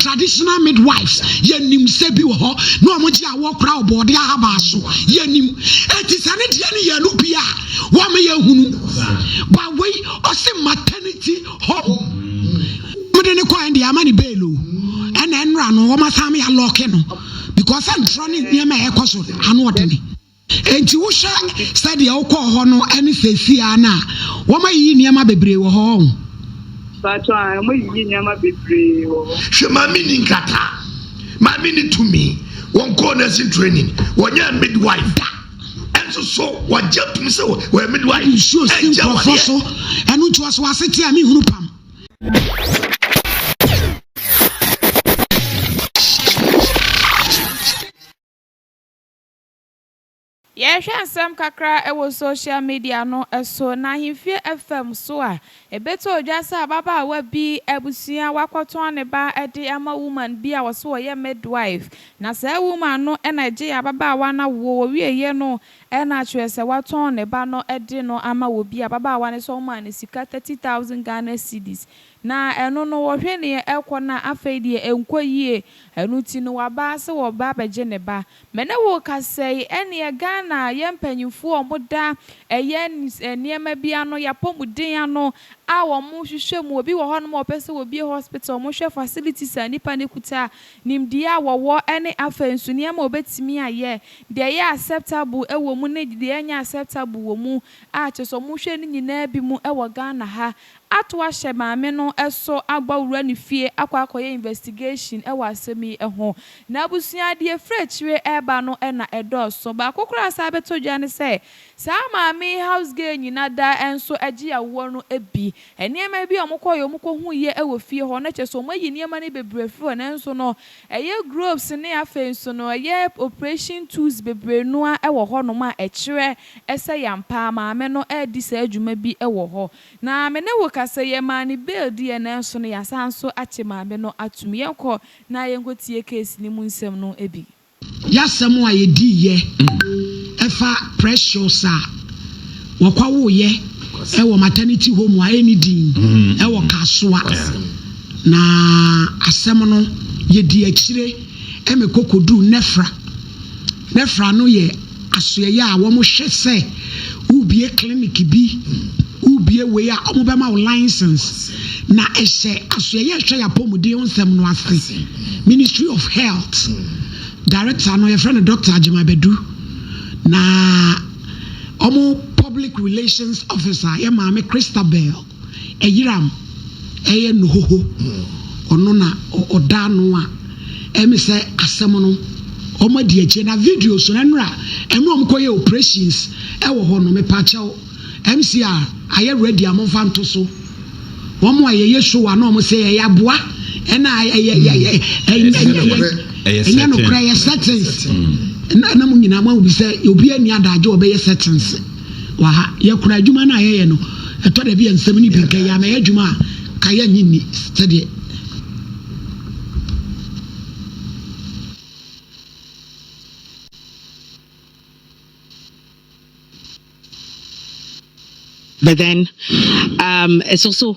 Traditional midwives yɛ nimsɛ bi wɔ hɔ na wɔn gye awoɔ kora ɔbɔɔde ahabaa so yɛ nim eti sɛ ne deɛ ne yɛ no bi a wɔn yɛ hunu ba wei ɔsi maternity home wɔn de ne kɔ ɛn deɛ ama ne bail o ɛna ɛnura no wɔn asan mi alɔɔke no because ɛntorɔ ne nneɛma ɛkɔ so ano ɔde ne. Enti wohwɛ sɛdeɛ wokɔɔ hɔ no ne seesei ara no a, wɔayiyi nneɛma bebree wɔ hɔ ɔn? Mpakyɛw, Aane, wɔayiyi nneɛma bebree wɔ hɔ. Hwɛ, maame nni nkrataa, maame nni tumi, wɔnkɔɔ nursing training, wɔnyɛɛ midwife da, nso so wɔagye tom sɛ wɔyɛ midwife. Wode nsuo si nkurɔfoɔ so, ɛno nti wɔso w'aseteɛ a menhunu pam. Yɛhwɛ nsɛm kakra wɔ social media no so na ahemfie fam so a, ɛbɛtɔ dwa sɛ ababaawa bi abusua wakɔtɔn ne ba de ama woman bi a wɔse ɔyɛ midwife na saa woman no na ɛgyee ababaawa no awoɔ, wɔwieeɛ no na kyerɛ sɛ watɔn ne ba no de no ama obi, ababaawa no sɛ ɔmaa no sika thirty thousand Ghana cedis. Na ɛno no wɔhwɛ neɛ ɛkɔ na afei deɛ ɛnkɔ yie ɛno nti no wabaa sɛ wɔba abɛgye ne ba me ne wo kasa yi ɛneɛ Ghana yɛ mpanyinfoɔ a wɔn da ɛyɛ nneɛma bi ano yɛapɔmuden ano a wɔn hwehwɛ mu obi wɔ hɔ nom a wɔpɛ sɛ wɔbie hospital wɔn hwɛ facilities a nipa no kuta nimdeɛ a wɔwɔ ɛne afei nso nneɛma a wɔbɛtumi ayɛ deɛ ɛyɛ acceptable wɔ mu ne deɛ ɛnyɛ acceptable wɔ mu a kyerɛ sɛ wɔn hwɛ ne nyinaa bi mu wɔ Ghana ha ato ahyɛ maame no so abɔ wura ne fie akɔ akɔyɛ investigation wɔ asɛm yi ho. Na abusua a deɛ ɛfiri akyire reba no na ɛdɔɔso. Baako koraa a ɛsan bɛtɔ dwa ne sɛ, saa maame yi house girl nyina da nso gye awoɔ no bi. Nneɛma bi a wɔkɔeɛ a wɔkɔhuiɛ wɔ fie hɔ no kyerɛ sɛ wɔayi nneɛma no bebree afiri hɔ nanso no ɛyɛ gropes ne afei nso no ɛyɛ operation tools bebree no ara wɔ hɔnom a ɛkyerɛ Ɛsɛ yɛ ampa, maame no redi saa dwuma bi wɔ hɔ. Na me ne wo ka sɛ yɛmaa no bail diiɛ nanso no yɛasan nso akye maame no atom. Yɛnkɔ na yɛnkɔtie case no mu nsɛm no bi. Y'asɛm a yɛdiiɛ ɛfa Precious a wɔkɔwoeɛ wɔ maternity home a ɛnni din wɔ Kasoa na asɛm no yɛdii akyire ma ɛkɔ kɔduu Nefra. Nefra no yɛ Asoɛeɛ a wɔhwɛ sɛ wobue clinic bi, wobue wei a wɔbɛma wo license na ɛhyɛ asoɛeɛ a ɛhwɛ yɛn apɔmuden ho nsɛm no ase. Ministry of health director no yɛfrɛ no Doctor Agyemang Badu na wɔn public relations officer yɛ maame Christabel. Ɛyeram ɛyɛ nohoho ɔno na ɔda ano a ɛmi sɛ asɛm no ɔmo adi akyire na videos no ɛnora ɛno ɔmo kɔ yɛ operations ɛwɔ hɔ no mepakyɛw MCR ayɛ ready a monfa nto so ɔmo a yɛyɛ show a na ɔmo sɛ ɛyɛ aboa ɛna ɛyɛ ɛyɛ ɛnyɛ nokorɛ ɛyɛ settings na na mo nyinaa mo ahu bi sɛ obi ani adagye ɔbɛyɛ settings. Wɔ ha, yɛkora adwuma no a yɛyɛ no. Ɛtɔ da bi a nsɛm no bi nka yie anaa ɛyɛ adwuma a ka yɛnnye nni sɛdeɛ. But then, um, it's also.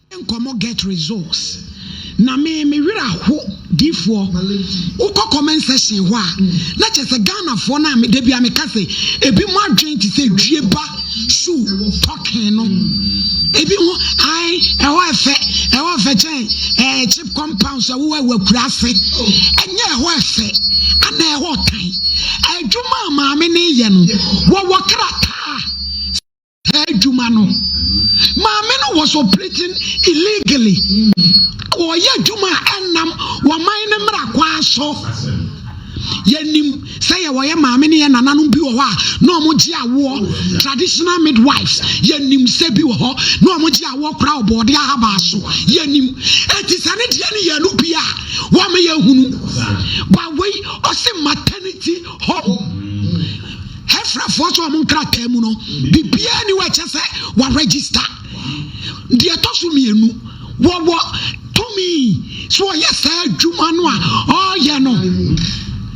Nkɔmɔ get results na me me werɛ aho difoɔ wokɔ comment section hɔ a na kyerɛ sɛ Ghanafoɔ no a da bi a meka sɛ ebi mo adwene te sɛ dwie ba shoe talking no ebi ho ae ɛhɔ ɛfɛ ɛhɔ ɛfɛ kyɛn ɛɛ chip compound sɛ wowɔ ɛwɔ akura ase ɛnyɛ ɛhɔ ɛfɛ ana ɛhɔ tan adwuma a maame ne yɛ no wɔwɔ krataa adwuma no maame no was operating illegally ɔyɛ adwuma a ɛnam wɔman no mmara kwaa so yɛnim sɛ yɛ wɔyɛ maame ne yɛ nananom bi wɔ hɔ a na wɔn gye awoɔ traditional midwives yɛnim sɛ bi wɔ hɔ na wɔn gye awoɔ kora ɔbɔɔde ahabaa so yɛnim eti sɛ ne deɛ ne yɛn no bi a wɔn yɛ hunu bawei ɔsi maternity Hom Hɛfrɛfoɔ nso wɔn nkrataa mu no biribiara ni wɔ ɛkyɛ sɛ wɔaregister. Deɛ ɛtɔ so mmienu wɔwɔ tumi so ɔyɛ saa adwuma no a ɔreyɛ no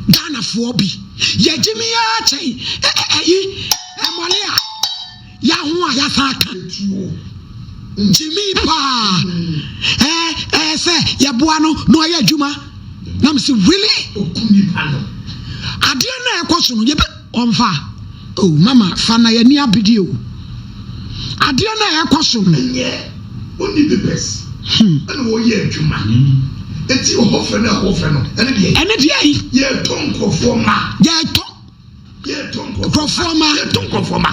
Ghanafoɔ bi yɛgye me ara kyɛn ɛyi ɛmɔle a ya ho a yɛasan aka gyimii paa ɛɛ ɛɛ sɛ yɛboa no na ɔyɛ adwuma na mesi really adeɛ no a ɛkɔ so no yɛbɛ ɔmfa o oh, mama fa na yɛni abedi o adeɛ no a ɛkɔ so no ɛnyɛ ɔni bebɛs hmm. ɛna ɔyɛ adwuma eti ɔhɔfɛ na ɛhɔfɛ no ɛne deɛ ɛne deɛ yi yɛtɔ nkurɔfoɔ ma yɛtɔ nkurɔfoɔ ma yɛto nkurɔfoɔ ma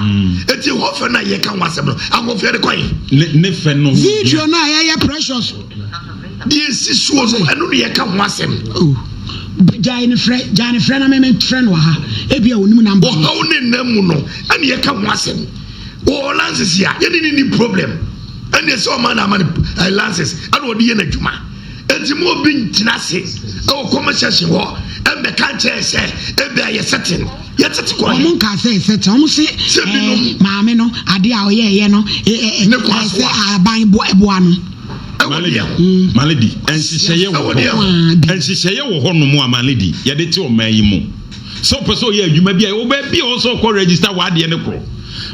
ɛti mm. hɔfɛ no a yɛka ho asɛm no ahɔfɛ de kɔe ne fɛ no video no a yɛyɛ precious deɛ ɛsi soɔ no ɛno ne yɛka ho asɛm gyae ne frɛ gyae ne frɛ na meme frɛ no aha ebi a onim namba ɔhaw ne nna mu no ɛne yɛka ho asɛm wɔ lances a yɛne ne ni problem ɛne ɛsɛ ɔma na ama no lances ɛna ɔde yɛ no adwuma Enti ma obi nntena ase wɔ comment section hɔ mmɛka nkyerɛ yɛn sɛ ebia yɛ setting no yɛtete kɔ he? Wɔn nkaa sɛ yɛ setting, wɔn se ɛɛ maame no adeɛ a ɔyɛɛyɛ no ɛɛ sɛ aban boa no. Malady, Malady, nhyehyɛeɛ wɔ hɔ, nhyehyɛeɛ wɔ hɔ nom a Malady yɛde te ɔman yi mu. Sɛ wopɛ sɛ ɔyɛ adwuma bi a, ɛwɔ baabi a ɔwɔ sɛ ɔkɔ register w'adeɛ no korɔ.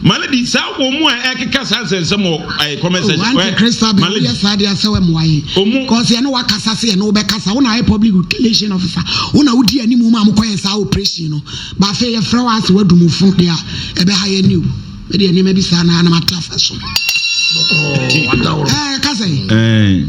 Male di saa wɔn mu a ɛkeka saa nsɛnsɛm wɔ ɛɛ comment section. Oh, anti Christa bɛ woyɛ saa deɛ sɛ wɛ mmoa yɛ. Omu. Cause yɛne wakasa sɛ yɛne wobɛkasa wo na ayɛ public relation officer wo na wodi animu ma mokɔyɛ saa operation no ba afei yɛfrɛ wo ase wadumufo deɛ ɛbɛha yɛ ne o ɛde nneɛma bi saa na anam ate afa so. Bɔkɔɔ, wada wɔ. Ɛɛ, ka sɛ. Ɛɛ.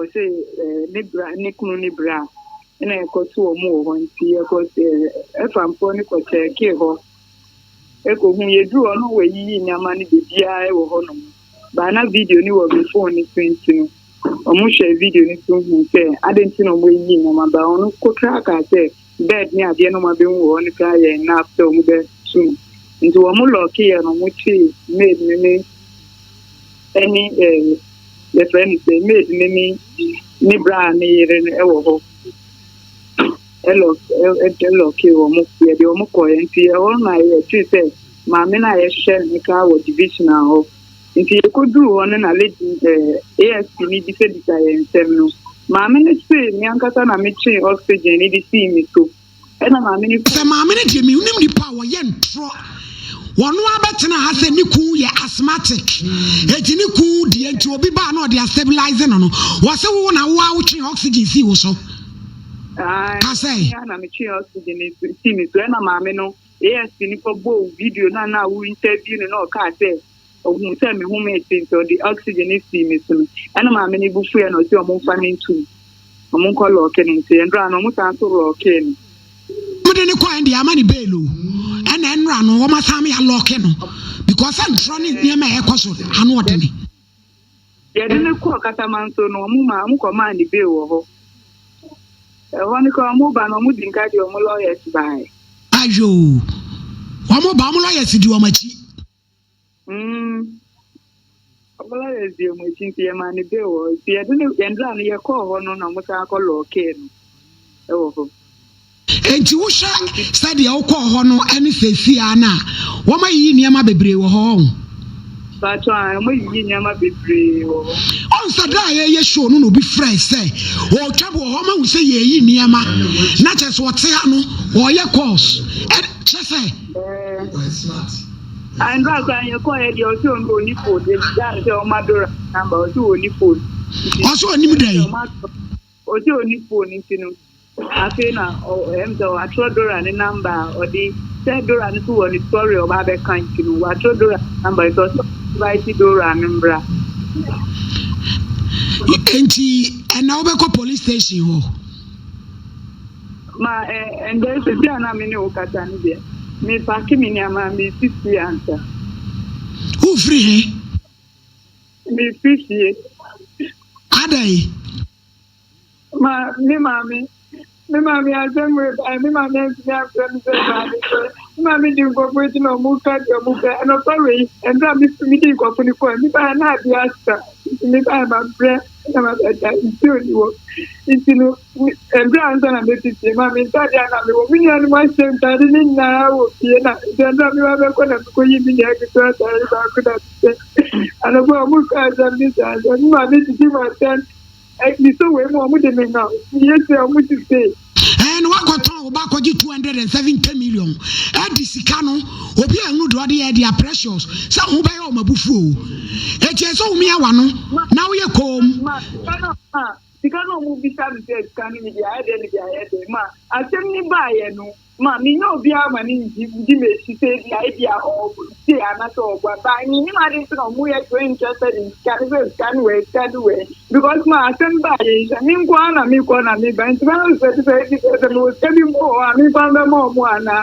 Ɔse ne bra ne kunu ne bra na ɛkɔ to ɔmo wɔ hɔ nti yɛkɔ ɛfa mpoɔ no kɔ kyɛɛkee hɔ ɛkɔ hu yɛduru hɔ no wɔayiyi nneɛma no bebiaa ɛwɔ hɔ nom baa na video no wɔ me phone no so nti no ɔmo hwɛɛ video no so hu sɛ adɛn nti na ɔmo ayiyi nneɛma baa ɔno kotraa kaa sɛ bed ne adeɛ na ɔmo abɛhu wɔ hɔ no koraa yɛɛ enough sɛ ɔmo bɛ tu no nti ɔmo lock yɛ no ɔmo kyee maid no ne ɛne eh yɛfrɛ no sɛ maid no ne ne braa ne yere no ɛwɔ hɔ ɛlock ɛlock yɛ ɔmo yɛde ɔmo kɔɛ nti ɛhɔ na yɛtee sɛ maame no a yɛhwɛ no koraa wɔ division hɔ. Nti yɛkɔduruu hɔ no na lady eh, ASP no bisabisa yɛn nsɛm no, maame no se me ankasa na me twee oxygen no de sii me so, ɛna maame no firi. Sɛ maame no deɛ mennim nipa a wɔyɛ ntorɔ, wɔno ara bɛtena ha sɛ ne kuu yɛ asthmatic, enti ne kuu deɛ nti obi baa na ɔde astabilize no no, wɔse wo na wo ara wotwee oxygen sii wo so. Ae, Ka sɛ. me ara na metwee oxygen no sii me so, ɛna maame no. ASP no kɔbɔɔ video no a na woriintɛview no na ɔkaa sɛ, Ohuu sɛ mehomee tee nti ɔde oxygen no sii me so no, ɛnna maame no bo fuiɛ na ɔse wɔmfa no nto mu, wɔnkɔ lɔɔke no nkyɛn. Ɛnora no, wɔsan nso lɔɔkee no. Wɔde no kɔɛ deɛ ama no bail o, ɛnna ɛnora no, wɔasan me alɔɔke no because ntorɔ ne nneɛma a ɛrekɔ so ano ɔdene. Yɛde no kɔɔ Katamanso no, wɔmaa wɔkɔmaa no bail wɔ hɔ. Ɛhɔ no koraa wɔba no wɔde nka de wɔn lawyers baeɛ. Ayo! Wɔn ba wɔn lawyers di wɔn akyi. Mm. Wɔn lawyers di wɔn akyi nti yɛmaa no bail wɔ hɔ. Nti yɛde no yɛn dra no yɛkɔɔ hɔ no na wɔsan kɔ lɔɔkee no wɔ hɔ. Enti wohwɛ sɛdeɛ wokɔɔ hɔ no ne seesei ara no a, wɔayiyi nneɛma bebree wɔ hɔ, ɔho? Mpakyɛw, aane, wɔayiyi nneɛma bebree wɔ hɔ. Ɔhu sɛ berɛ a yɛreyɛ show no na obi frɛe sɛ ɔretwa bi wɔ hɔ, mahu sɛ yɛreyi nneɛma, na kyerɛ sɛ ɔte ha no, ɔreyɛ calls, kyerɛ sɛ. Ɛɛ, aane, berɛ a koraa yɛkɔeɛ deɛ ɔse ɔnni phone, yɛbisaa no sɛ ɔma Dora number, ɔse ɔnni phone. Ɔse ɔnnim dɛn? Ɔgye ɔni phone no nti no afei na ɛm sɛ watwerɛ Dora ne number a ɔde sɛ Dora no so wɔ ne story ɔba abɛka nti no watwerɛ Dora ne number nti ɔsɛ invite Dora no mbra. Nti ɛna wobɛkɔ police station hɔ. Ma ɛ ɛndɛ sisi a na me ne wo kasa no deɛ me pake me nneɛma me si fie ansa. Wofiri he? Mifi fie. Adɛn? Ma me maame. Me maame asɛm reba ɛ. Me maame antumi amfrɛ me sɛ bra mesrɛ. Me maame di nkurɔfo akyi na wɔn ka deɛ wɔn pɛ. Anɔpa wei, mmerɛ a mefi medi nkurɔfo no kɔɛ, me baeɛ na adeɛ asa. Nti me baeɛ mabrɛ na mabɛda. Nsuo nni hɔ. Nti no, Mbrɛ ansa na mefi fie ma me ntaadeɛ a na mewɔ me nuanom ahyɛ ntaade no nyinaa wɔ fie na sɛ mbrɛ meba bɛkɔ na mekɔyi me nua ketewa ataade baako na mehyɛ. Anɔpa a wɔkaa asɛm no saa sɛ me maame gyigye mu atɛn Kristo wei mu a wɔde me haw nti yɛ sɛ wɔn ti see. Ɛɛ na wakɔtɔn wo ba kɔgye 270 million ɛde sika no obi a ɛhunu deɛ ɔde yɛ ɛde a precious sɛ ho bɛyɛ wɔn abufuo o ɛkyɛ sɛ wɔn yɛ wano na woyɛ koom. Sika no a wɔbisa me sɛ sika no mede ayɛ dɛn mede ayɛ dɛn ma asɛm no baeɛ no ma mennya obiara ma no di m'akyi sɛ ebia ebia ɔtie anaasɛ ɔboa but mennim ade nti na wɔyɛ so interested in sika no sɛ sika no wɛn sika no wɛn because ma asɛm baeɛ nhyɛ me nko ara na mekɔ na meba nti bɛyɛ sɛ sɛ sɛ ebi sɛ sɛ mewɔ sika bi mpo hɔ a mekwan bɛma ɔmo anaa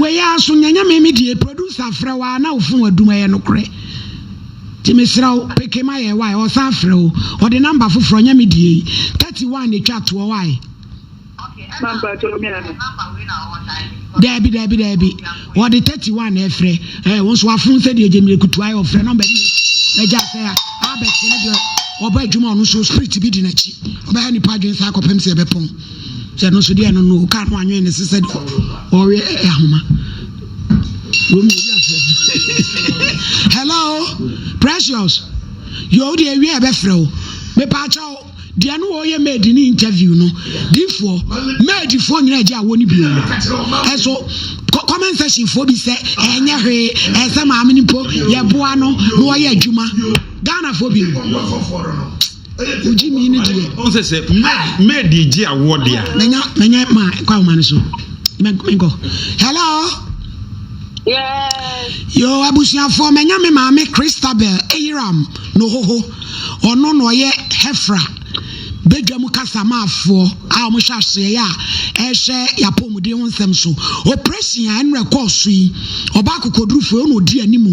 Wei ara so nyɛ nyame me die producer frɛ wo a na wofon adum ɛyɛ nokorɛ nti mesrɛ wo peke ma yɛ wae ɔsan frɛ wo ɔde namba foforɔ nyɛ me die yi 31 na ɛtwa toɔ wae daabi daabi daabi Wɔde thirty one na ɛfrɛ ɛɛ wɔn nso afun sɛ deɛ gyemire kutu ayɛ ɔfrɛ nɔmba bi ɛgya sɛ a abɛte ne deɛ ɔbɔ adwuma ɔno nso spirit bi di n'akyi ɔbɛha nipa adwene saa kɔpem sɛ ɛbɛpɔn sɛ ɛno nso deɛ ɛno no kaa no anwene ne se sɛ deɛ ɔwe ahoma wɔn yɛ afrɛ hello precious yɛ o deɛ ɛwie ɛbɛfrɛ o mepaakyɛw deɛ no ɔyɛ maid ne interview no difoɔ maid foɔ nyinaa gye awɔ no bio ɛso comment section foɔ bi sɛ ɛnyɛ hwee ɛsɛ maame no mpo yɛboa no na ɔyɛ adwuma ghana foɔ bi wogye mi no deɛ ɔsɛ sɛ maid gye awɔ deɛ manya manya ma kɔ ahoma no so menkɔ hello Yes. Yo abusuafoɔ manya me maame Christabel Eyiram No hoho, ɔno na ɔyɛ Hefra badwam kasamaafoɔ a wɔhyɛ asoɛeɛ a ɛrehwɛ yɛn apɔmuden ho nsɛm so. Operation a ɛnora ɛkɔɔ so yi, ɔbaa akokoɔdurufoɔ yi, ɔna ɔdi anim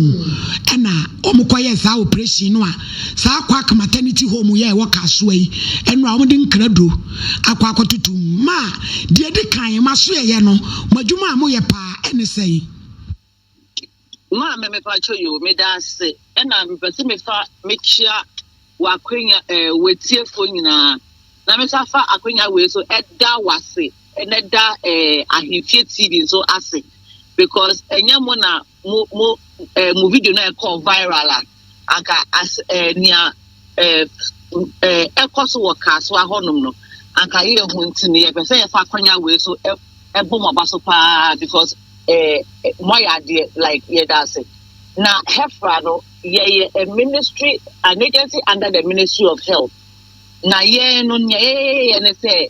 ɛna wɔkɔyɛɛ saa operation no a saa Kwak Maternity Home yi a ɛwɔ Kasoa yi ɛnora wɔde nkraduro akɔ akɔtoto mu. Ma, deɛ ɛdi kan, mo asoɛeɛ no, mo adwuma a moyɛ paa ɛne sɛn? Maame mepakyɛ yoo medase ɛna mepɛsɛ mefa mekyia wakwanya ɛɛ eh, watiefo nyinaa na mesa fa akwanya wei so ɛda wase ɛna ɛda ɛɛ eh, ahemfie tv nso ase because ɛnyɛ mo na mo mo ɛɛ eh, mo video na ɛkɔ viral a anka as eh, nea eh, eh, ɛkɔ so wɔ kaasoa hɔnom no anka yɛhu nti no yɛpɛ sɛ yɛfa akwanya wei so ɛ- ɛbɔ mo aba so paa because eh, eh, moayɛ adeɛ like yɛda ase na hefra no yɛyɛ a ministry an agency under the ministry of health na yɛn no nea yɛyɛyɛ ne sɛ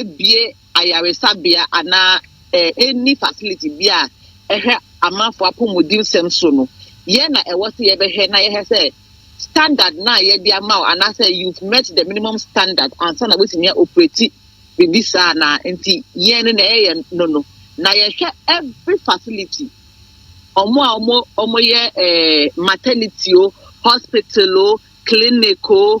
abue ayaresabea anaa enni facility bi a ɛhwɛ amanfo apɔmudensɛm so no, yɛn na ɛwɔ sɛ yɛbɛhwɛ na yɛhwɛ sɛ standard no a yɛde ama wo anaasɛ you've met the minimum standard ansa na woatumi a operate biribi saa na nti yɛn no na ɛyɛ yɛn no no na yɛhwɛ every facility ɔmo a ɔmo ɔmo yɛ ɛɛ maternity o hospital o clinic o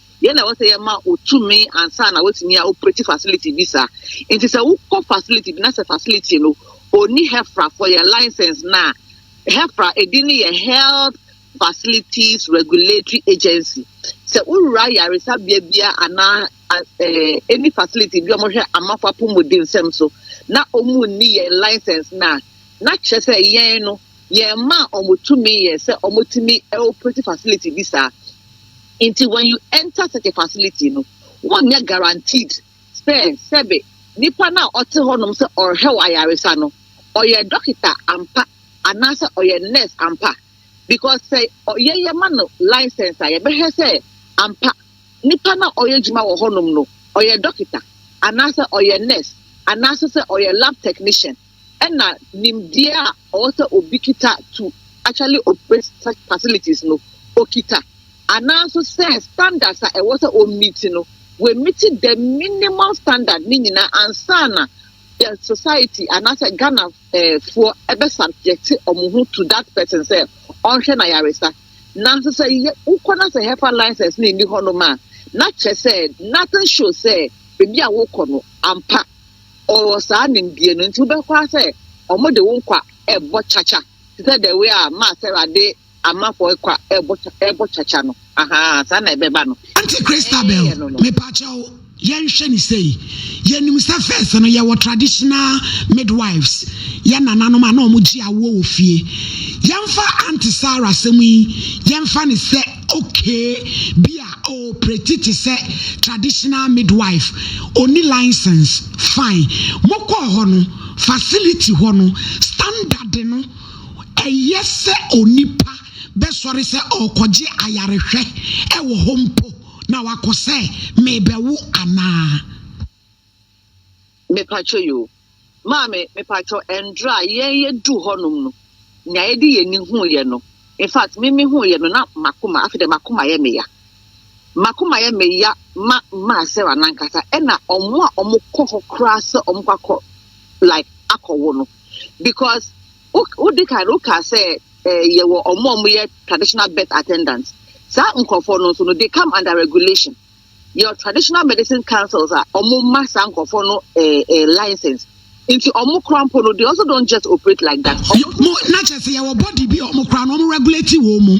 Deɛn na ɛwɔ sɛ yɛma wo tumi ansa na woatumi a operate facility bi saa? Nti sɛ wokɔ facility bi na sɛ facility no ɔnni HEFRA for yɛ license no a, HEFRA ɛdin no yɛ Health Facilities Regulatory Agency. Sɛ wowura yaresabea bia anaa ɛni facility bi wɔhwɛ amafo apɔmuden nsɛm so na wɔn nni yɛn license no a, na kyerɛ sɛ yɛn no Yɛmaa wɔn tumi yɛ sɛ wɔtumi operate facility bi saa. Nti when you enter such a facility no, wonyɛ guaranteed sɛ sɛbe nipa no a ɔte hɔnom sɛ ɔrehwɛ wo ayaresa no, ɔyɛ dɔkita ampa anaasɛ ɔyɛ nurse ampa. Because sɛ ɔyɛ yɛma no license a, yɛbɛhwɛ sɛ ampa nipa no a ɔyɛ adwuma wɔ hɔnom no, ɔyɛ dɔkita anaasɛ ɔyɛ nurse anaasɛ sɛ ɔyɛ lab technician. ɛna nimdeɛ a ɔwɔ sɛ obi kita to actually operate such facilities no okita anaa nso sɛ standards a ɛwɔ sɛ ɔmmiti no wɔmmiti the minimal standard ne nyinaa ansa na the society anaasɛ Ghana eh, foɔ ɛbɛ subject wɔn ho to that person sɛ ɔnhwɛ na yaresa nanso sɛ wokɔ na sɛ hefa license na ɛni hɔ nom a na kyerɛ sɛ nothing show sɛ baabi a wokɔ no ampa Ɔwɔ saa nimdeɛ no nti wobɛkɔ ara sɛ ɔmo de wo kwa ɛɛbɔ kyakya te sɛ the way a maa Sarah de Amanfoɔ kwa ɛɛbɔ kya ɛɛbɔ kyakya no ahaa saa na ɛbɛba no. Auntie Christabel, mepakyɛw yɛnhwɛ no sei, yɛnim sɛ first no yɛwɔ traditional midwives, yɛn nananom a na wɔn gye awoɔ wɔ fie. Yɛmfa Auntie Sarah asɛm yi yɛmfa no sɛ Okay bi a ɔɔprɛti te sɛ traditional midwife, ɔnni license, fine. Mokɔɔ hɔ no, facility hɔ no standard no, ɛyɛ sɛ onipa bɛsɔre sɛ ɔɔkɔgye ayarehwɛ wɔ hɔ mpo na wakɔ sɛ meebɛwo anaa? Mepakyɛ yoo. Maame mepakyɛ ɛndra yɛn yɛ duu hɔ nom no nea yɛde yɛn ani huu yɛ no infact me me huu yɛ no na makoma afei dɛ makoma yɛ me ya makoma yɛ me ya ma maa Sarah nankasa ɛna ɔmo a ɔmo kɔ hɔ koraa sɛ ɔmo kɔ akɔ like akɔ wo no because wo de kan wo kaa sɛ eh, yɛ wɔ ɔmo ɔmo yɛ traditional birth attendant saa nkorɔfoɔ no nso no they come under regulation. yɛwɔ traditional medicine councils a wɔn ma saa nkurɔfoɔ no eh, eh, license nti wɔn kora mpo no they also don't just operate like that. mo na kyɛ sɛ yɛwɔ body bi a wɔn kora no wɔn regulate wɔn mu.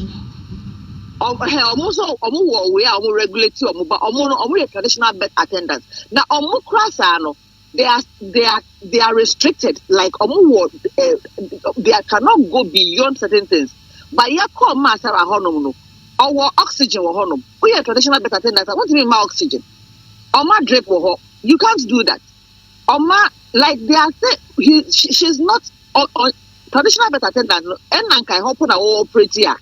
wɔn nso wɔn wɔ wei a wɔn regulate wɔn ba wɔn no wɔn yɛ traditional birth attendants na wɔn kora saa no. They are they are they are restricted like ọmụ wọ eh, they are, cannot go beyond certain things but yẹ kọọ mmaa sara hɔnom no ɔwɔ oxygen wɔ hɔnom woyɛ traditional birth attendant a wontumi mma oxygen ɔma drip wɔ hɔ you can't do that ɔma like they are say he she, she's not on, on traditional birth attendant no ɛna nka ɛhɔ po na wɔwɔ operate a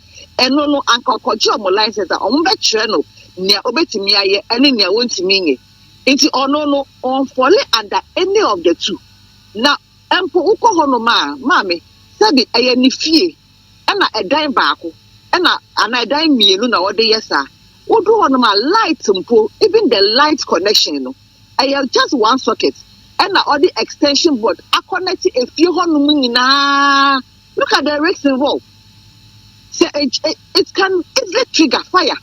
ɛno no anka ɔkɔgye ɔmo license a ɔmo bɛkyerɛ no nea obetumi ayɛ ɛne nea wontumi nyɛ. Nti ɔno no ɔnfɔle under any of the two. Na mpo wokɔ hɔnom a, maame, sɛbe ɛyɛ ne fie ɛna ɛdan baako ɛna anaa ɛdan mmienu na ɔde yɛ saa, wodu hɔnom a light mpo, even the light connection no, ɛyɛ just one socket ɛna ɔde extension board akɔnɛte efie hɔnom nyinaa. Look at the risks involved. Sɛ it can easily trigger fire.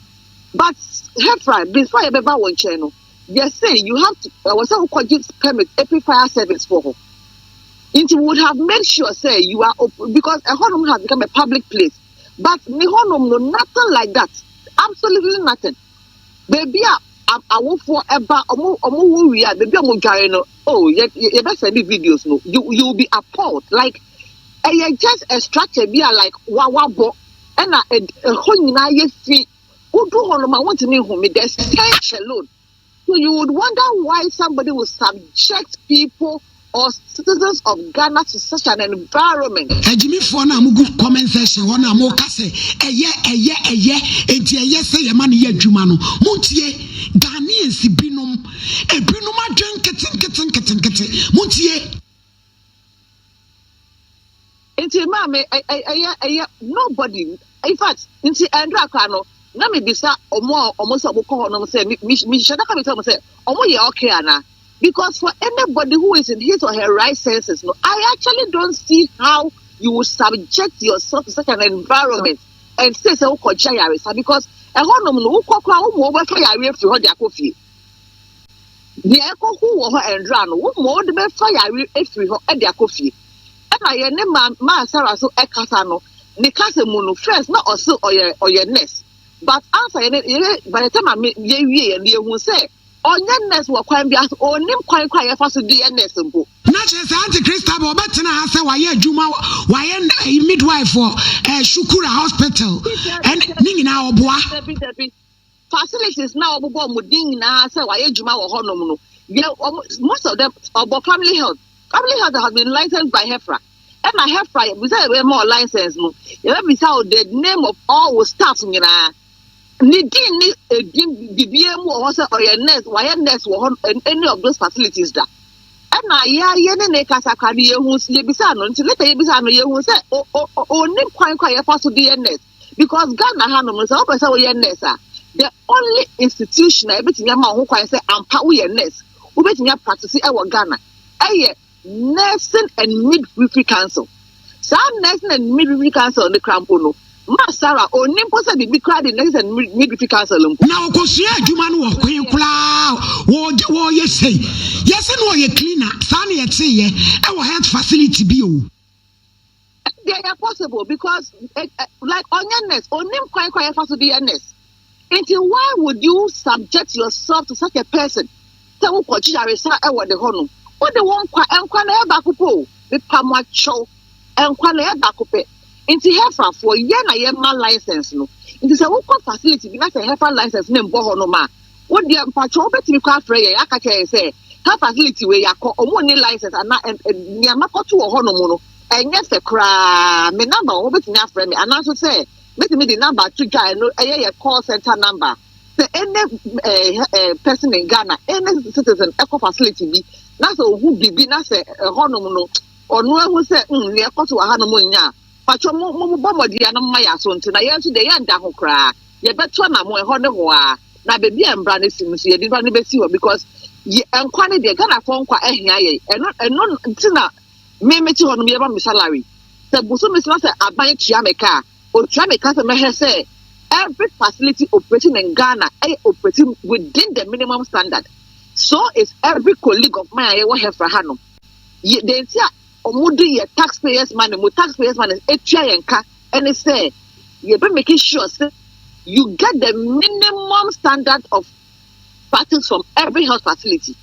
But Hephrine, before a yɛbɛba wo nkyɛn no, yɛse you have to, ɛwɔ sɛ wokɔgye permit efi fire service foɔ hɔ. Nti we would have made sure sɛ you are op because ɛhɔnom has become a public place. But ne hɔnom no, nothing like that, absolutely nothing. Baabi a awofoɔ ɛba, ɔmo ɔmo wo wie a, baabi a ɔmo dware no, oh, yɛ yɛbɛsɛnde videos no, you you will be appalled, like ɛyɛ just a structure bi a like wa wabɔ ɛna ɛhɔ nyinaa yɛ fi wodu hɔ nom a wontumi nhu me the stench alone so you would wonder why somebody would subject people or citizens of Ghana to such an environment. Agyimifoɔ no a mo gu comment section hɔ no a mo ka sɛ ɛyɛ ɛyɛ ɛyɛ enti ɛyɛ sɛ yɛma no yɛ adwuma no mo tie Ghanaians binom ebinom adwen nketenkete nketenkete mo tie. Nti maa me ɛyɛ ɛyɛ nobody in fact nti ɛndra koraa no na me bisa ɔmo a ɔmo sɛ ɔmo kɔ hɔ nom sɛ me me me hyɛ daka me sɛ ɔmo sɛ ɔmo yɛ okay ana because for anybody who is in his or her right senses no I actually don't see how you would subject yourself to such an environment and say sɛ wokɔ gya yaresa because ɛhɔ nom no wokɔ koraa wo mo wɔbɛfa yareɛ firi hɔ de akɔ fie. Deɛ ɛkɔho wɔ hɔ ɛnhra no, wo mmɔ wode bɛfa yareɛ afiri hɔ de akɔ fie. Ɛna yɛn ne maa maa Sarah so ɛkasa no, ne kasa mu no, first na ɔse ɔyɛ ɔyɛ nurse, but ansa yɛne yɛne by the time ame yɛwie yɛn no yɛhu sɛ ɔnyɛ nurse wɔ kwan biara so, ɔnnim kwan kora yɛfa so de yɛ nurse mpo. Na kyerɛ sɛ Auntie Christabel ɔbɛtena ha sɛ wayɛ adwuma, wayɛ midwife wɔ eh, Shukura hospital, ɛne ne nyinaa ɔboa. Dabi dabi. facilities na wɔbobɔ wɔn din nyinaa sɛ wɔayɛ adwuma wɔ hɔnom no yɛ wɔn most of them ɔbɔ family health family health has been licensed by HEFRA ɛna HEFRA yɛbisa yɛbɛyɛ ma wɔ license no yɛbɛbisa wɔ the name of all wɔ staff nyinaa ne din ne edin bibia mu wɔ hɔ sɛ ɔyɛ nurse wɔayɛ nurse wɔ hɔ any of those facilities da ɛna yɛayɛ ne ne kasakra no yɛhu yɛbisa no nti leta yɛbisa no yɛhu sɛ ɔnim kwan kɔ a yɛfa so de yɛ nurse because Ghana ha nom sɛ wopɛ sɛ woyɛ nurse a the only institution a ebetumi ama ho kwan sɛ ampa woyɛ nurse wobetumi apratisi ɛwɔ Ghana ɛyɛ nursing and midwifery council saa nursing and midwifery council ne kura mpo no ma Sarah onim mpo sɛ biribi kura de nursing and midwifery council mpo. na ɔkɔsua adwuma no wɔ kwan koraa wɔde wɔyɛ sɛi yɛsɛ na ɔyɛ cleaner saa na yɛteyɛ ɛwɔ health facility bi o. ɛdeɛ yɛ possible because eh, eh, like ɔnyɛ nurse onim kwan kwan yɛfa so de yɛ nurse nti why would you subject yourself to such a person sɛ wokɔgye yaresa ɛwɔ de hɔ no wode wo nkwa nkwa na ɛyɛ baako pɛ o mepa mo akyɛw nkwa na ɛyɛ baako pɛ nti hefafoɔ yɛ na yɛma license no nti sɛ wokɔ facility bi na sɛ hefa license no mbɔ hɔ no ma Wo deɛ mpakyɛw wobɛtumi kɔ afrɛ yɛn aka kyerɛ yɛn sɛ ha facility wei yɛakɔ ɔmo nni license ana nea makɔto wɔ hɔnom no ɛnyɛ fɛ koraa me number wɔ hɔ wobɛtumi afrɛ me ananso sɛ mɛtumi de number ato dwa ɛno ɛyɛ yɛ call center number sɛ ɛnɛ eh, eh, person in ghana ɛnɛ citizen ɛkɔ facility bi na sɛ ɔhu biribi na sɛ ɛhɔnom no ɔno ahu sɛ mm, nea ɛkɔ so wɔ hanom nyɛ a Mpakyɛw mo mo bɔ mmɔden a na mo ma yɛ aso nte na yɛn nso deɛ yɛn nda ho koraa yɛ bɛ to anamon ɛhɔ ne hɔ aa na bɛbi a mbra no si no nso yɛde nipa no bɛ si hɔ because yɛ nkwa no deɛ Ghana foɔ nkwa ɛhia yɛn ɛno ɛno nti na me me te hɔ nom yɛ ma me salary sɛ boso me sena sɛ aban tua me ka a otua me ka sɛ mɛhɛ sɛ every facility operating in Ghana ɛyɛ operating within the minimum standard so is every colleague of mine a yɛwɔ hɛfra ha nom yɛ deɛ nti a wɔn de yɛ tax payers money mo tax payers money etua yɛn ka ɛne sɛ yɛ bɛ make sure sɛ you get the minimum standard of practice from every health facility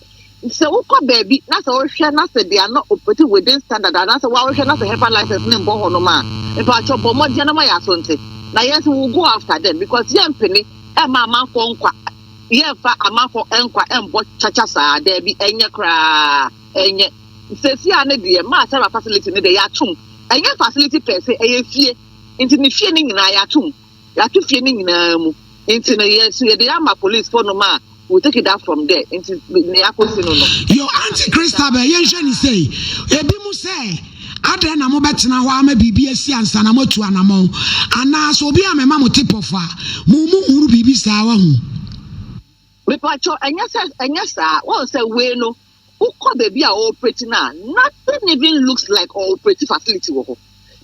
sɛ wokɔ baabi na sɛ wohwɛ na sɛ they are not operating within standard anaasɛ woahwɛ na sɛ hepa license ne mbɔ hɔ nom a mpakyɛ bɔ mmɔden na ma yɛ aso nte na yɛn nso will go after them because yɛn mpene ɛma amanfoɔ nkwa yɛmfa amanfoɔ nkwa ɛmbɔ kyakya saa daabi ɛnyɛ koraa Ɛnyɛ. Seesei ara no deɛ maa Sarah facility no deɛ yɛato mu. Ɛnyɛ facility pɛɛ sɛ, ɛyɛ fie. Nti ne fie no nyinaa yɛato mu. Yɛato fie no nyinaa mu. Nti no yɛ so yɛde ama police fo nom a we take it up from there. Nti ne yɛakɔsi no no. Yo Auntie Christabel yɛnhwɛ ne sei. Ebi mu sɛ adɛn na mobɛtena hɔ ama biribi asi ansa na moatu anamɔn anaa sɛ obi a mema mo tip off a mo mu hunu biribi saa wahu. Mepacho ɛnyɛ sɛ ɛnyɛ saa wɔn sɛ wei no wokɔ baabi a ɔɔprɛti no a nothing even looks like ɔɔprɛti facility wɔ hɔ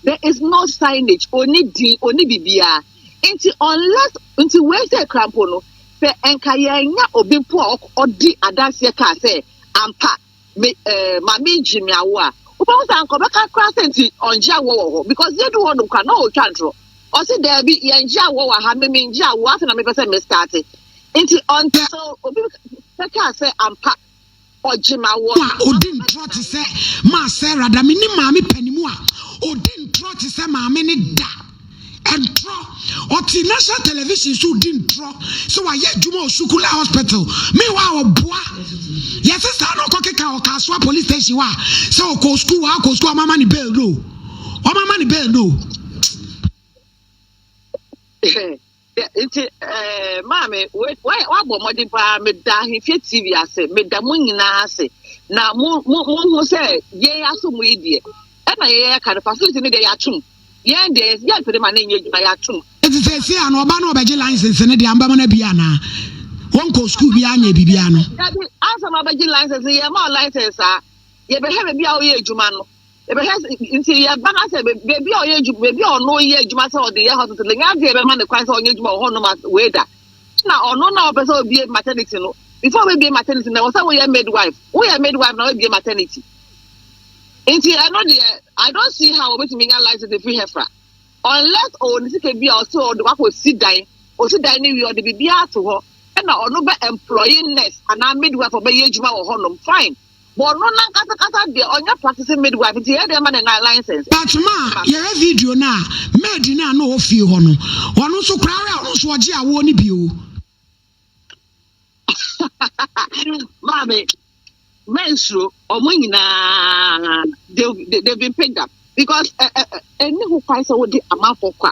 there is no signage ɔni din ɔni bibiara nti unless nti wei sɛ krampo no sɛ nka yɛnya obi mpo a ɔdi adanseɛ kaa sɛ ampa me eh, maame ngye me awo a wobɛhu sɛ anka ɔbɛka koraa sɛ nti ɔngye awoɔ wɔ hɔ because yɛdu hɔ nom koraa na ɔretwa ntorɔ ɔse daabi yɛngye awoɔ wɔ ha me mengye awoɔ afei na mepɛ sɛ mestarte nti ɔnte sɛ obi bɛkaa sɛ ampa ɔgye ma woɔ a ɔdi ntorɔ te sɛ maa sarah da menim maame panimu a ɔdi ntorɔ te sɛ maame ne da Ntorɔ. Ɔte national television so di ntorɔ sɛ wayɛ adwuma wɔ Sukula hospital. Meanwhile ɔboa. Yɛse saa na ɔkɔkeka wɔ Kasoa police station hɔ a sɛ ɔkɔ school wɔ akɔ school ɔmama ne bail no o. Ɔmama ne bail no o. nti eh, maame woabɔ mmɔden paa meda ahemfie tv ase meda mo nyinaa ase na mohu sɛ yɛn aso mu yi deɛ ɛna yɛyɛ ka no facility no deɛ yɛatom yɛn deɛ yɛmpede ma no nyɛ adwuma yɛatom ɛti sɛ ɛsi a na ɔba no ɔbɛgye license no deɛ ambɛma no abi anaa wɔnkɔ sukuu bi anyɛ biribiara no ansa ma ɔbɛgye license yɛma ɔ license a yɛbɛhwɛ baabi a woyɛ adwuma no yɛbɛhwɛ nti yɛba no sɛ baabi a ɔyɛ adwuma baabi a ɔno yɛ adwuma sɛ ɔde yɛ hospital nya adeɛ bɛma ne kwan sɛ ɔnyɛ adwuma wɔ hɔnom wei da na ɔno na ɔpɛ sɛ obie maternity no before obie maternity na ɛwɔ sɛ woyɛ midwife woyɛ midwife na wabie maternity nti ɛno deɛ i don't see how obetumi nya license efiri hɛfra unless ɔwɔ ne sika bi a ɔsɛ ɔde wakɔ si dan ɔsi dan ne wie ɔde biribi ato hɔ ɛna ɔno bɛ employee nurse anaa midwife ɔbɛyɛ adwuma wɔ hɔnom fine But no nankasa kasa deɛ ɔnyɛ practicing midwife nti yɛyɛ dɛn ma ne na license. But ma yɛhwɛ video no a maid no a na ɔwɔ fie hɔ no ɔno nso koraa wɛ ɔno nso ɔgye awoɔ no bi o. Maame, mɛnsuro, ɔmo nyinaa they they been picked up because ɛni ho kwan sɛ wode amanfoɔ kɔ a.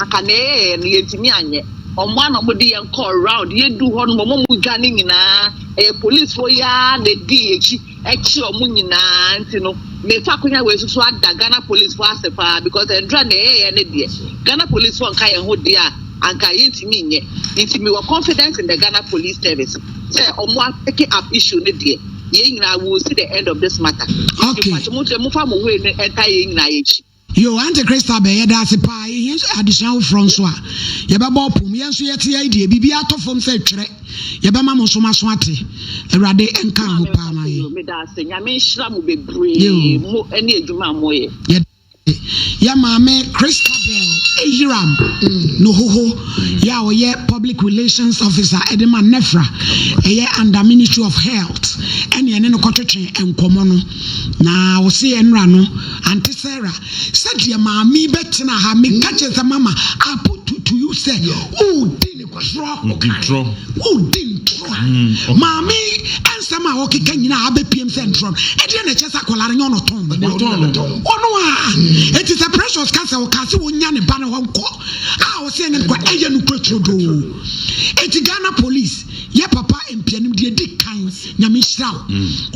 anka nea yɛyɛɛ no yɛntumi anyɛ, wɔmoa na wɔde yɛn kɔɔ round, yɛduu hɔ nom wɔn mu dwa no nyinaa ɛyɛ policefoɔ yi ara na ɛdii yɛn akyi ɛkye wɔn nyinaa nti no mefa akonya wei so so ada Ghana policefoɔ ase paa because ɛdura nea yɛyɛɛ no deɛ Ghana policefoɔ nka yɛn ho deɛ a anka yɛntumi nyɛ nti mewɔ confidence in the Ghana police service sɛ wɔmoa picking up issue no deɛ yɛn nyinaa we will see the end of this matter okay. mo nkyerɛ mofa mo wei no ɛnta yɛn nyinaa yɛn akyi Yoo ante Christa bɛ yɛda ase paa yɛhia nso adesua foforɔ nso a yɛbɛbɔ ɔpom yɛn nso yɛte yɛn deɛ biribi atɔ fam sɛ twerɛ yɛbɛma mo nso maso ate awurade nka ho paa ma yɛn meda ase nyame nhyira mo bebree mo ɛne adwuma a moyɛ yɛda ase yɛ maame Christabel Eyiram no hoho yɛ a ɔyɛ public relations officer ɛde ma nefra ɛyɛ under ministry of health ɛne ɛne no kɔtwetwe nkɔmɔ no Na ɔse yɛn nora no, Aunty Sarah, sɛdeɛ maame yi bɛtena ha, meka kyerɛ sɛ mama I put to, to you sɛ wodi ntorɔ, wodi ntorɔ. Maame yi nsɛm a ɔkeka nyinaa abɛpiem sɛ ntorɔ no, ɛdeɛ na ɛkyɛ sɛ akwadaa no nyɛ ɔno ɔtɔn no. Ɔno a, ɛti sɛ Precious ka sɛ ɔka sɛ ɔnya ne ba no hɔ nkɔ a ɔse ɛnyɛ nokora, ɛyɛ nokora turodoo. Ɛti Ghana police, yɛ papa mpianim deɛ ɛdi kan. Nyame nhyira wo.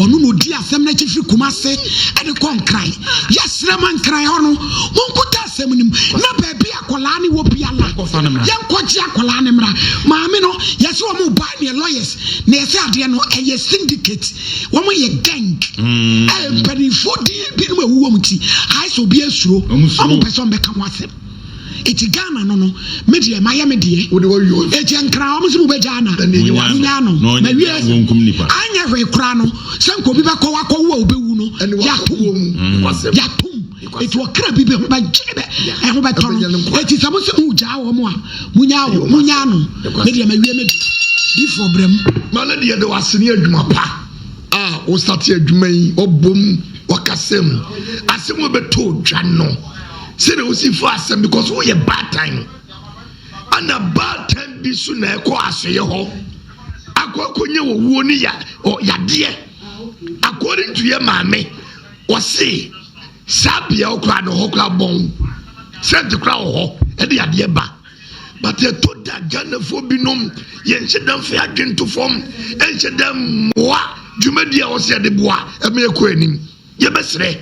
Ɔno na ɔdi asɛm no akyi firi Kumase de kɔ Nkran. Yɛsrɛ ma Nkran hɔ no, monkuta asɛm no mu na baabi a akwadaa no wɔ biara, yɛnkɔgye akwadaa no mmra. Maame no, yɛse wɔn ba neɛ lawyers na yɛse adeɛ no ɛyɛ syndicate, wɔn yɛ gang. Mpanimfoɔ din binom a ɛwowɔ mu nti, ayɛ sɛ obiara suro, wɔn mpɛ sɛ wɔbɛka ho asɛm. Eti Ghana no no me deɛ mayɛ me deɛ Wode wawie ɔn. Eti nkran ɔmo se mobɛgyaa na Na nea ɛnyɛ Monyaa no na ɔnyɛ mawie dɛn wɔnkum nipa. Anyɛ hwee koraa no sɛ nka obi bɛkɔ wakɔwo a obewu no Ɛne wakɔ yatom kuo mu Nokwasɛm yatom Nokwasɛm Eti ɔkra bi bɛ ho bɛgye bɛ Ɛbɛnya ɛho bɛtɔ no ɛbɛnya no nkwa Eti sɛ mo se mogyaa wɔn a monyaa Ɛyɛ wɔn ɔmo asɛm monyaa no Me Nokwasɛm deɛ mawie me deɛ Difoɔ brɛ mu. Ma no de yɛda wo ase ne adwuma pa a wo state adwuma yi wabom wakasam asɛm a ɛbɛtɔ dwa no. Sɛdeɛ wosi fa asɛm because woyɛ baatan no ana baatan bi so na ɛkɔ asoyɛ hɔ akɔ akɔnya wɔwuo ne ya ɔ yadeɛ according to yɛ maame ɔse saa bea ɔkora no hɔ kora bɔn sɛnte kora wɔ hɔ ɛde yadeɛ ba but ɛtɔ da ghanafoɔ binom yɛnhyɛ da mfa adwene to fam ɛnhyɛ da mmoa dwumadi a ɔsɛ yɛde boa ɛma ɛkɔ anim Yɛbɛsrɛ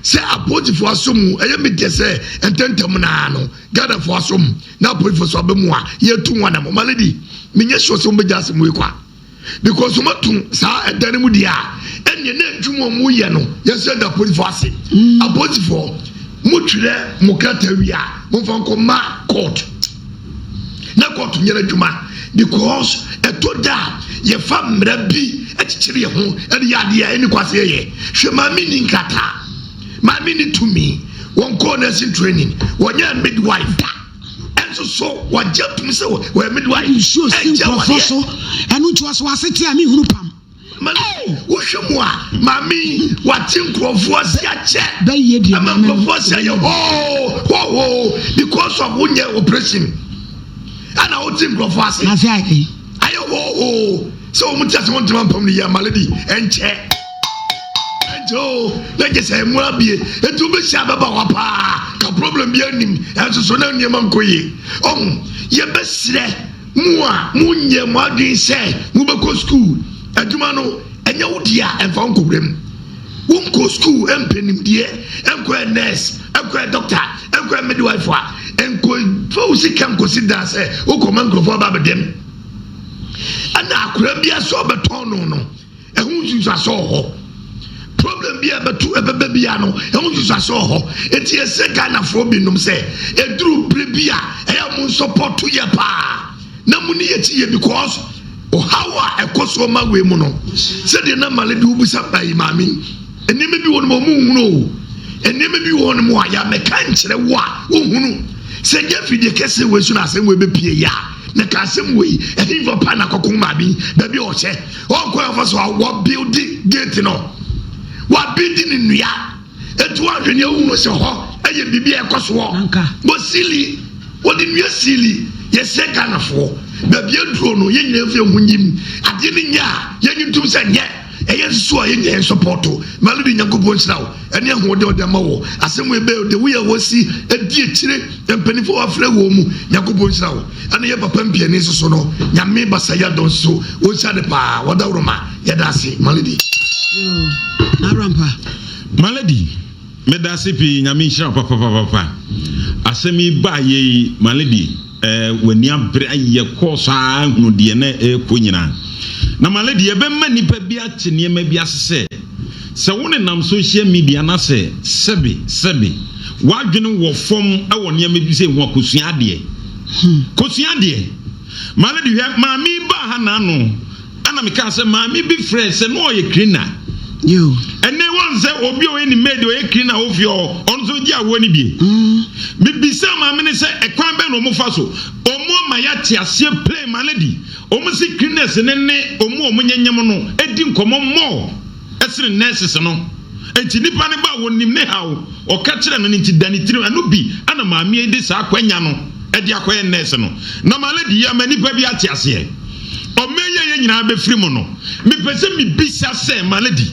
sɛ apolisifoɔ asɔ mu, ɛyɛ me deɛ sɛ ntɛntɛm no ara no Ghanafoɔ asɔ mu na apolisifoɔ nso aba mu a, yɛtu wɔn anamɔ. Ma lady, menyɛ sure sɛ wɔn bɛgya asɛm wei kwa because wɔn atu saa ɛdan no mu deɛ a, ɛnneɛ na adwuma a wɔn yɛ no yɛn nso yɛda apolisifoɔ ase. Apolisifoɔ, mo twerɛ mo krataa wie a, mo nfa nkɔ ma court. na kɔɔto nyɛ n'adwuma because ɛtɔ da a yɛfa mmara bi kyekyere yɛn ho de yɛ adeɛ a ɛni kwan sɛ yɛyɛ hwɛ maame ni nkrataa maame ni tumi wɔn kɔɔ nursing training wɔnyɛ midwife da ɛnso so wɔgye tom sɛ wɔyɛ midwife nsuo si nkurɔfoɔ so ɛno nti ɔso asete a mehunu pam Wohwɛ mu a, maame yi wate nkurɔfoɔ ase akyɛ. Ɛma nkurɔfoɔ ase ayɛ hoo hoo because of wonyɛ operation. Ɛna wote nkurɔfoɔ ase. Ase ayɛ. Ayɛ hoo hoo sɛ wɔn ti ase wɔn ntoma mpam ne yɛ malady ɛnkyɛ. Ɛnkyɛ o na gye sɛ ɛmu abie etu bi hyɛ abɛba wa paa ka problem bi anim ɛnso so na nneɛma nkɔ yie. Ɔho yɛbɛsrɛ. Mo a monyɛ mo adwene sɛ mobɛkɔ sukuu, adwuma no, ɛnyɛ wo deɛ a, ɛmfa wo nkɔ wuram. Wonkɔɔ sukuu mpɛ nimdeɛ, nkɔyɛ nurse, nkɔyɛ doctor, nkɔyɛ midwife a, nkɔfa wo sika nkɔsi dan sɛ wokɔma nkurɔfoɔ aba abɛdɛm. Ɛna akwadaa biara sɛ ɔbɛtɔn no no, Ɛho nsunsuaso wɔ hɔ. Problem bi a ɛbɛto ɛbɛba biara no, ɛho nsunsuaso wɔ hɔ. Enti yɛsrɛ Ghanafoɔ binom sɛ, ɛduru berɛ bi a, ɛyɛ a monsɔpɔto yɛ paa na moni yɛn akyi yie because ɔhaw a ɛkɔ soɔ ma wei mu no, sɛdeɛ na Maledi wobisa ɛyi maame yi, nneɛma bi wɔ hɔnom a wɔnhunu o. Nneɛma bi wɔ hɔnom a, yɛ a mɛka nkyerɛ wo a, wonhunu. Sɛ ɛnyɛ afidie kɛseɛ wei so na asɛm wei bɛpue yɛ a, na ka asɛm wei, ɛhefa paa na akɔko maame yi, baabi a ɔhyɛ. Ɔnkɔ afa so a wɔabildi gate no, wɔabildi no nnua, ɛtu ahwɛ nea wohunu sɛ hɔ ɛyɛ biribi a ɛkɔ soɔ. Bɔ siili, wɔde nnua siili, yɛsrɛ Ghanafoɔ, baabi aduro no yɛn nyinaa mfiri ho nyim, adeɛ no nyɛ a yɛnyi ntom sɛ nyɛ, ɛyɛ nso a yɛn nyinaa yɛnsɔpɔɔto, Melody Nyankopɔn nhyira wo. ɛne ahoɔden a ɔde ama wɔ asɛm wei bɛyɛ ɔde woyɛ wɔsi ɛdi akyire mpanyinfoɔ wafrɛ wɔn mu nyankopɔn nhyira wo ɛne yɛ papa mpiani nso so no nyame basa yɛ adɔn so wɔnhyira de paa wɔda woro ma yɛda ase maledi arampa maledi meda ase pii nyame nhyira wo papapapapa asɛm yi baa yɛ yi maledi W'ani abere ayɛ kɔɔ so ara ahunu deɛ na ɛrekɔ nyinaa. Na Male deɛ, ɛbɛma nnipa bi ate nneɛma bi ase sɛ, sɛ wonenam social media na sɛ sɛbe sɛbe w'adwene wɔ fam wɔ nneɛma bi sei ho a, kɔsua adeɛ. Kɔsua adeɛ. Male de, hwɛ, maame yi baa ha nnanno. Ɛna me kaa sɛ maame bi frɛ sɛ na ɔyɛ cleaner. Yoo. Ɛnɛ wɔn sɛ obi a ɔyɛ ne maid ɔyɛ cleaner wɔ fie hɔ, ɔno nso gye awoɔ no bie. Mm. Me bisa maame no sɛ ɛkwan bɛn na wɔn fa so, wɔn ama yɛ ate aseɛ plain ma no di, wɔn si cleaners no ne wɔn a wɔn nyɛ nyɛm no di nkɔmɔ more. ɛsene nurses no nti nnipa no ba a wɔnim ne haw ɔka kyerɛ no no nti da ne tirim ɛno bi na maame yi de saa akwanya no de akɔyɛ nurse no na ma lady yi ama nnipa bi ate aseɛ ɔmɛ yi a yɛn nyinaa bɛfiri mu no mepɛ sɛ mebisa sɛ ma lady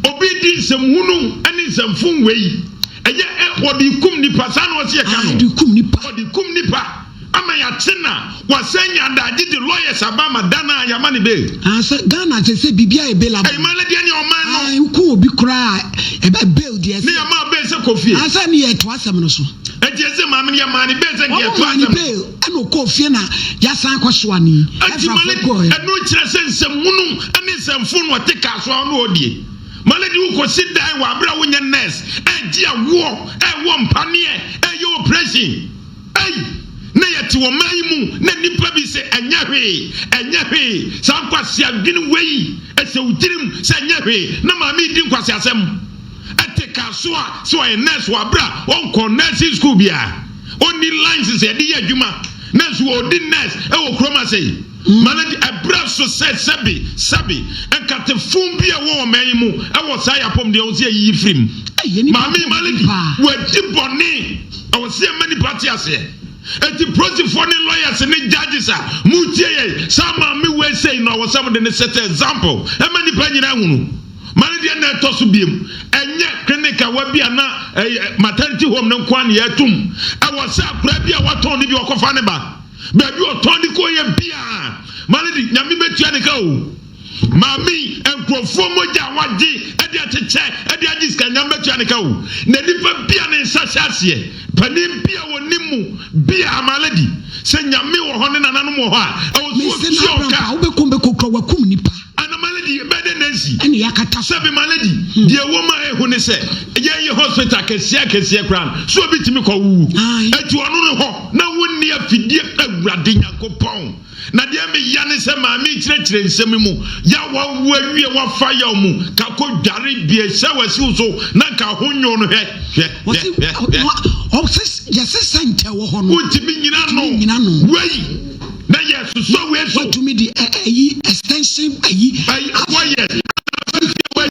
obi di nsɛm hunu ne nsɛm fom wei ɛyɛ ɔde kum nipa saa na ɔsɛ yɛka no ɔde kum nipa Ama yɛakye na wɔasan nya adagye de lawyers aba ama da no a yɛama no bail. Ah sɛ Ghana kyerɛ sɛ biribi a available. Ɛyɛ man no deɛ ne ɔman no. Ah wokɔ obi koraa ɛbɛ bail deɛ ɛsɛ. Ne yɛ maa bail sɛ kɔ fie. Ah sɛ ne yɛ to asɛm no so. Ɛnti ɛsɛ maame no yɛ maa ne bail sɛ nka yɛ to asɛm no so. Wɔn maa ne bail ɛna ɔkɔɔ fie na yɛasan akɔ soa ne yi. Ɛnti Malady ɛno kyerɛ sɛ nsɛm hunu ɛne nsɛm fo na ɔte kaa soa ɔno ɔdie. Malady wokɔ si dan wɔ abere a wonyɛ nurse ɛgye awoɔ ɛwɔ mpaneɛ ɛyɛ operation. Ei! Na yɛte wɔ man yi mu na nnipa bi se ɛnyɛ hwee, ɛnyɛ hwee, saa nkwaseadwene wei ɛhyɛ wo tirim sɛ ɛnyɛ hwee, na maame yi di nkwaseasɛm ɛte car so a sɛ ɔyɛ nurse wɔ aberɛ a ɔnkɔɔ nursing school biara, ɔnni lines sɛ yɛde yɛ adwuma nanso ɔredi nurse ɛwɔ kurom ase yi. Ma no de abira so sɛ sɛbe, sɛbe, nkate fun bi a ɛwɔ ɔman yi mu wɔ saa yɛ apɔmuden a ɛwɔ sɛ yɛyiyi firi mu. Maame yi, Malady, wadi bɔne. Ɛwɔ sɛ yɛma nnipa te aseɛ. Enti polisifoɔ ne lawyers ne judges a moretie yɛn yi, saa maame wei sei no ɛwɔ sɛ mode no set example ma nnipa nyinaa ahunu. Malady ɛna ɛtɔ so biom. Ɛnyɛ clinic a wabia na maternity home no nko ara na yɛatum. Ɛwɔ sɛ akwadaa bi a watɔn no bi ɔkɔfa ne ba. Baabi ɔtɔn de kɔ yɛ biaa ma no de nyame bɛtua ne ka o maame yi nkurɔfoɔ mogya a wagye de akyekyɛ de agye sika nyame bɛtua ne ka o na nipa bia ne nsa hyɛ aseɛ panin bia wɔnim mu biaa ma lady sɛ nyame wɔ hɔ ne nananom wɔ hɔ a ɛwɔ so ɔtua ɔka. Ana malady yɛ bɛɛ dɛ nansi. Ɛna yɛakata so. Sɛbi malady deɛ ɛwɔ mu a ehu ne sɛ yɛn yɛ hospital akɛseɛ akɛseɛ koraa no so obi tumi kɔ wuwu Ae. ɛti ɔno no hɔ na wo nni afidie awurade Nyankopɔn na deɛ me ya ne sɛ maame yi kyerɛkyerɛ nsɛm mu ya wa wo awie wa fa yaw mu ka kɔ dware bie hyɛ wa siw so na nka ho nyo no hwɛ hwɛ hwɛ hwɛ hwɛ. Ɔse yɛse center ɛwɔ hɔ no wo tumi nyina no wei. na yɛ susua wei so. Watumi di ɛ ɛyi extension ayi. Ayi wɔ yɛ anamfɛnfɛ wɔ yi.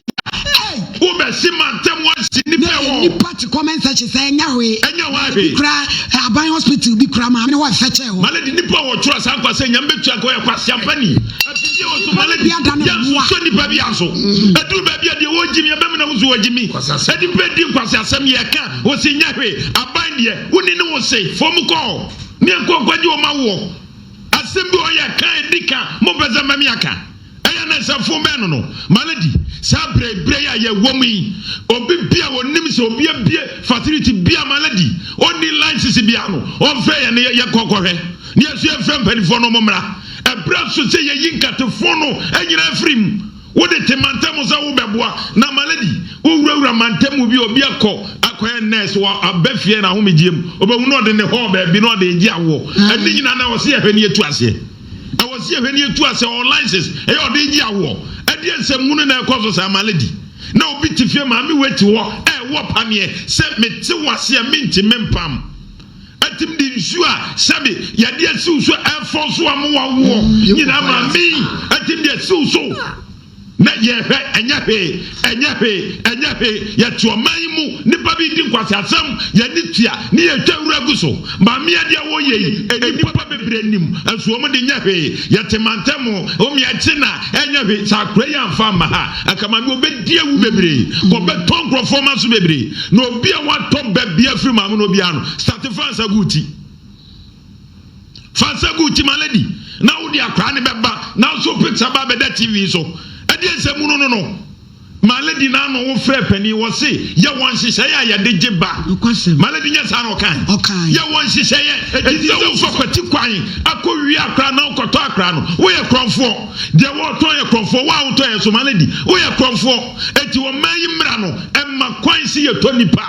Wo bɛ si ma ntɛm wɔ si nipa wɔ. Na nipa ti comment section sɛ ɛnya hwee. Ɛnya hwee. Ebi kura aban hospital bi kura maame ne hɔ ɛfɛ kyɛ hɔ. Maledi nipa wɔ twerɛ saa nkwa sɛ nyame bɛ tua kɔ yɛ kwa si ampani. Ɛbi wɔ so maledi yɛ nsusu nipa bi aso. Mm-hmm. Ɛduru baabi a deɛ wɔgyi mi ɛbɛ mi na ho so wɔgyi mi. Ɛdi bɛ di nkwasi asɛm yɛ ka wɔ si nya hwee aban deɛ woni ne wɔ se fɔm kɔɔ. Me nkɔ nkwagye ɔma woɔ. Asɛm bi ɔyɛ ka ɛdi ka mo mpɛ sɛ mɛ me aka ɛyɛ ne sɛ fo bɛn no no ma no di saa berɛ berɛ yi a yɛ wɔ mu yi obi bi a ɔnim sɛ obi abie facility bi a ma no di ɔnni license bi a no ɔmfɛ yɛ ne yɛ kɔ kɔhwɛ ne yɛ so yɛ fɛ mpanifoɔ no ɔmo mmra ɛberɛ so sɛ yɛ yi nkatefo no nyina afiri mu Wode te mantam sɛ wobɛboa na malady wowurawura mantam mu bi obi akɔ akɔyɛ nurse wɔ aba fie na ahomegyeɛ mu obɛhu na ɔde ne hɔɔ baabi na ɔde regye awoɔ ɛne nyina na ɛwɔ sɛ yɛhwɛ ne yɛtu aseɛ ɛwɔ sɛ yɛhwɛ ne yɛtu aseɛ ɔwɔ license ɛyɛ ɔde regye awoɔ ɛdeɛ nsɛm hunu na ɛkɔ so saa malady na obi te fie maame wei te hɔ ɛwɔ paneɛ sɛ mete wo aseɛ mente mempam Ɛtumi de nsuo a sɛbe yadeɛ asiw so ɛfɔɔso amoa woɔ nyinaa ma me. Ɛtumi de asiw so. Na yɛhwɛ ɛnyɛ hwee, ɛnyɛ hwee, ɛnyɛ hwee. Yɛte ɔman yi mu, nnipa bi redi nkwaseasɛm, yɛn ani tua, ne yɛretwa wura gu so. Maame adeɛ a wɔreyɛ yi, nnipa bebree nim, nso wɔn de nyɛ hwee. Yɛte mantam ho, wɔn yɛ kye na ɛnyɛ hwee. Sɛ akora yi amfa amma ha, anka maame ɔbɛdi awu bebree, kɔbɛtɔ nkurɔfoɔ mma so bebree. Na obi a watɔ bɛ bia firi maame no obiara no sate fa nsa gu ti fa nsa gu ti ma lady na wode akora ne bɛba na nso picture ba bɛda tv so ɛdeɛ nsɛ mu no no no ma lady na ano wo frɛ panin wɔ se yɛ wɔn nhyehyɛeɛ a yɛde gye ba ma lady nyɛ saa na ɔkan yɛ wɔn nhyehyɛeɛ ɛti sɛ wofa kwati kwan akɔ wie akora na wokɔtɔ akora no woyɛ korɔmfoɔ Deɛ wɔretɔn yɛ korɔmfoɔ, wo a wotɔ yɛ nso ma no adi, woyɛ korɔmfoɔ. Enti ɔman yi mmara no mma kwan sɛ yɛtɔ nnipa.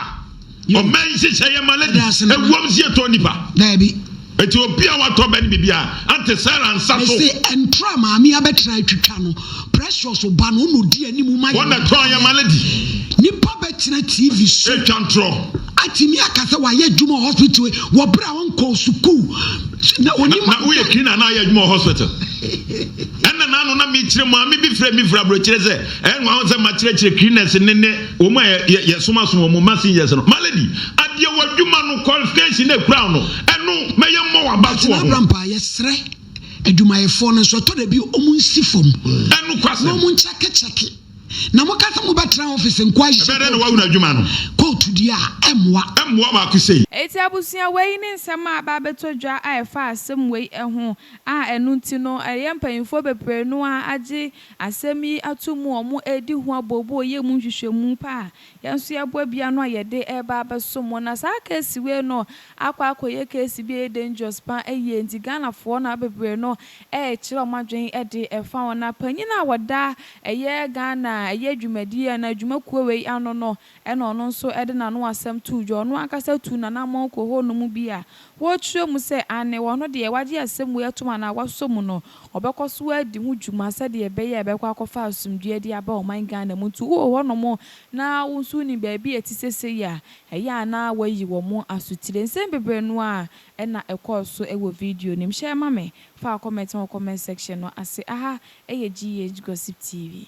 Ɔman yi nhyehyɛeɛ mma ladies ɛwom sɛ yɛtɔ nnipa. Daabi. Enti obi a watɔ bɛ no biribiara, Aunty Sarah nsa so. Mese ɛntra maame abɛtra atwitwa no, Precious ba no, ɔna ɔdi anim ma yɛn. Ɔna tɔn yɛ ma no adi. Nipa bɛtena TV so. Ɛtwa ntorɔ. Atumi aka sɛ wayɛ adwuma wɔ hospital wɔ berɛ a ɔnkɔɔ sukuu. Na woyɛ cleaner na ayɛ adwuma wɔ hospital. Ɛna na ano na mekyerɛ maame bi frɛ me firi aburokyerɛ sɛ ɛnwa ho sɛ makyerɛkyerɛ cleaners ne ne wɔn a yɛsomasom wɔn messengers no. Malady, adeɛ w'adwuma no qualification na ekura no ɛno mɛyɛ mmɔ w'aba so wɔ ho. Abrampa yɛsrɛ adwumayɛfoɔ no nso ɛtɔ da bi wɔn nsi fam. Ɛno kwasɛm. Na wɔn nkyɛkekyɛke. Na mo kasa mo bɛtra office nko ahyɛ. Ɛbɛdɛ na wawuna adwuma no. Kóòtù di a ɛmoa. Ɛmoa baako sei. Eti abusua wei ne nsɛm a aba abɛtɔ dwa a ɛfa asɛm wei ho. a ɛno nti no ɛyɛ mpanyimfoɔ bebree no ara agye asɛm yi ato mu a wɔredi ho abooboo reyɛ mu nhwehwɛmu pa a yɛn nso yɛboa bi ano a yɛde reba abɛsom wɔn. Na saa case wei no akɔ akɔyɛ case bi a ɛyɛ dangerous pa ara yie nti Ghanafoɔ no ara bebree no rekyerɛ wɔn adwene de fa ho. Na panyin a ɔda ɛyɛ Ghana ɛyɛ dwumadie anaa dwumakuo wei ano no Ɛna ɔno nso de n'ano asɛm too dwa. Ɔno ankasa tuu n'anammɔn kɔɔ hɔnom bi a wɔkyerɛ mu sɛ aane, ɔno deɛ wagye asɛm wei atom anaa wasɔ mu no, ɔbɛkɔ so adi ho dwuma sɛdeɛ ɛbɛyɛ a ɛbɛkɔ akɔfa asomdwoeɛ de aba ɔman Ghana mu. Nti wowɔ hɔnom na wo nso wonim baabi a ɛte sɛ sei a, ɛyɛ a na woayi wɔn asotire. Nsɛm bebree no ara na ɛkɔɔ so wɔ video no mu. Hyɛ ma me fa wo comment wɔ comment section no ase. Aha yɛ GH Gossip TV.